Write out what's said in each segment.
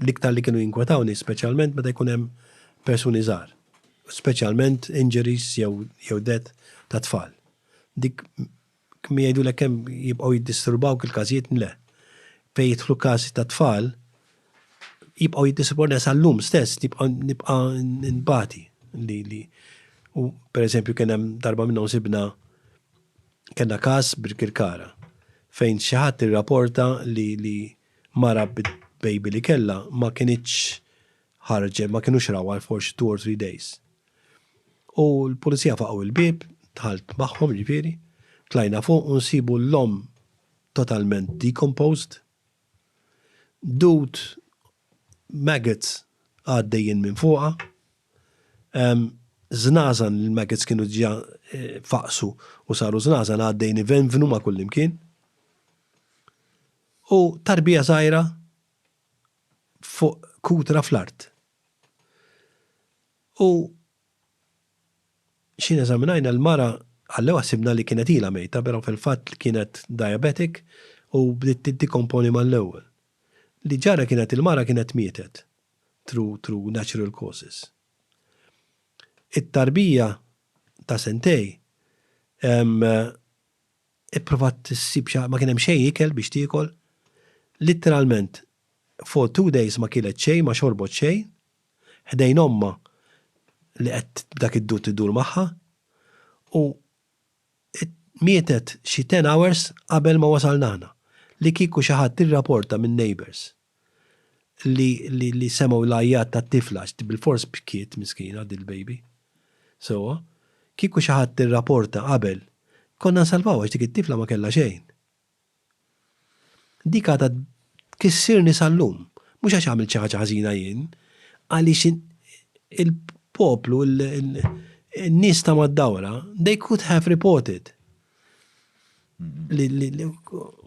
L-iktar li kienu jinkwetawni speċjalment meta jkun hemm persuni żgħar, speċjalment injuries jew jew death ta' tfal. Dik kemm jgħidulek kemm jibqgħu jiddisturbawk il-każijiet le. Fejn jidħlu każi ta' tfal jibqgħu jiddisturbawni sal-lum stess nibqa' nibqa' nbati li li u pereżempju kien hemm darba minnhom sibna kellna każ Birkirkara fejn xi ħadd irraporta li li Mara b'baby li kellha ma kinitx ħarġet, ma kinux rawha għal forsi two or three days. U l-Pulizija faqgħu il-bieb, dħalt magħhom jiġifieri, tlajna fuq u nsibu l-omm totalment decomposed, dud, maggots għaddejjin minn fuqha, żnażan li l-maggots kienu diġà faqqsu u saru żnażan għaddejjin ivenvnu ma' kullimkien. U tarbija żgħira fuq kutra fl-art. U x'ħin eżaminajna l-mara, għall-ewwel ħsibna li kienet ilha mejta, però fil-fatt kienet diabetic u bdiet tiddekomponi mal-ewwel. Li ġara kienet il-mara kienet mietet through through natural causes. It-tarbija ta' sentejn, ehm, Ipprovat issib xi ma kien hemm xejn ikel biex tiekol. Litteralment for two days ma kielet xejn, ma xorbot xejn. Ħdejn ommha li qed b'dak id-dur tiddur magħha. U mietet xi ten hours qabel ma wasalna aħna. Li kieku xi ħadd irraporta min-neighbours. li li li semgħu l-għajjat tat-tifla għax bilfors bkiet miskina dil-baby. Sewwa, kieku xi ħadd irraporta qabel, konna nsalvawha għax dik it-tifla ma kellha xejn. Dik għadha tkissirni sal-lum, mhux għax għamilt xi ħaġa ħażina jien, għaliex il-poplu, in-nies ta' mad-dawra, they could have reported.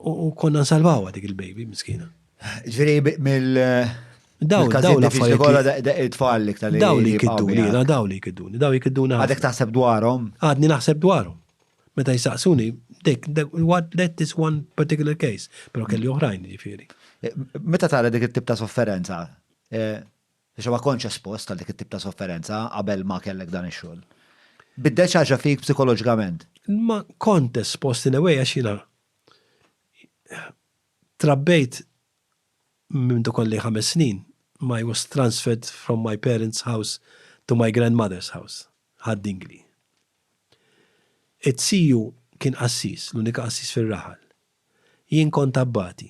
U konna nsalvawa dik il-baby, miskina. Ġveri, mill. Daw, daw la fajja. Kolla it-tfal li ktar. Daw li kidduni, daw li kidduni, daw li kidduni. Għadek taħseb dwarom? Għadni naħseb dwarom. Meta jisaqsuni, dik, what that is one particular case, pero kelli oħrajn ġifiri. Meta tara dik it-tip ta' sofferenza, eh, Għax ma kontx espost għal dik it-tip ta' sofferenza qabel ma kellek dan ix-xogħol. Biddel xi ħaġa fik psikoloġikament? Ma kont espost in a way għax jiena trabbejt minn meta kolli ħames snin ma i was transferred from my parents house to my grandmother's house, Ħad Dingli. It-CU kien qassis, l-unika qassis fir-raħal. Jien kont abbati.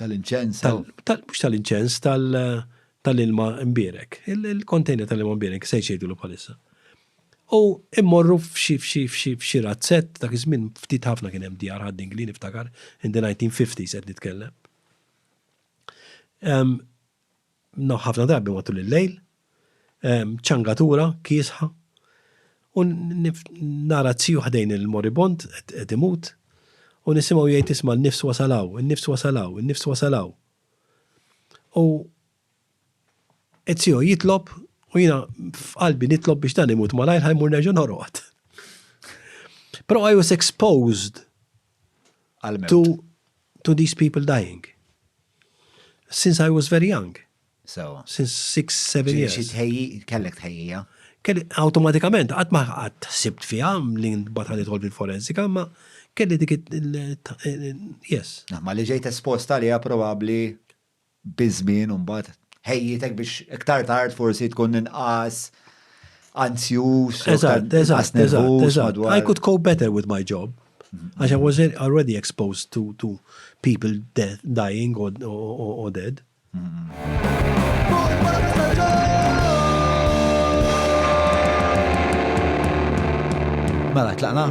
Tal-inċens. Mhux tal-inċens, tal-ilma mbierek. Il-kontejner tal-ilma mbierek, se jgħidulu bħalissa. U immorru f'xi f'xi f'xi f'xi razzett, dak iż-żmien ftit ħafna kien hemm djar ħad Ingli niftakar, in the 1950s qed nitkellem. Ħafna drabi matul il-lejl, ċangatura kiesħa u nara t-tiju ħdejn il-moribond qed imut u nisimgħu jgħid isma' n-nifs wasal hawn, in-nifs wasal hawn, in-nifs wasal hawn. U t-tiju jitlob u jiena f'qalbi nitlob biex dan imut malajr ħa jmur nerġa' norqod. Però I was exposed. to, to these people dying. Since I was very young. So. Since six, seven years. Xi tħejji, kellek tħejjija? Kelli, automatikament, għat ma għat sibt fija, li batħan idħol fil-forensika, ma kelli dik yes. Ma li ġejt esposta li probabli. biż-żmien imbagħad ħejjitek biex iktar tard forsi tkun inqas anzjuż, inqas nervuż madwar. I could cope better with my job. Għax I was already exposed to, to people death, dying or, or, or dead. Mela, tlaqna?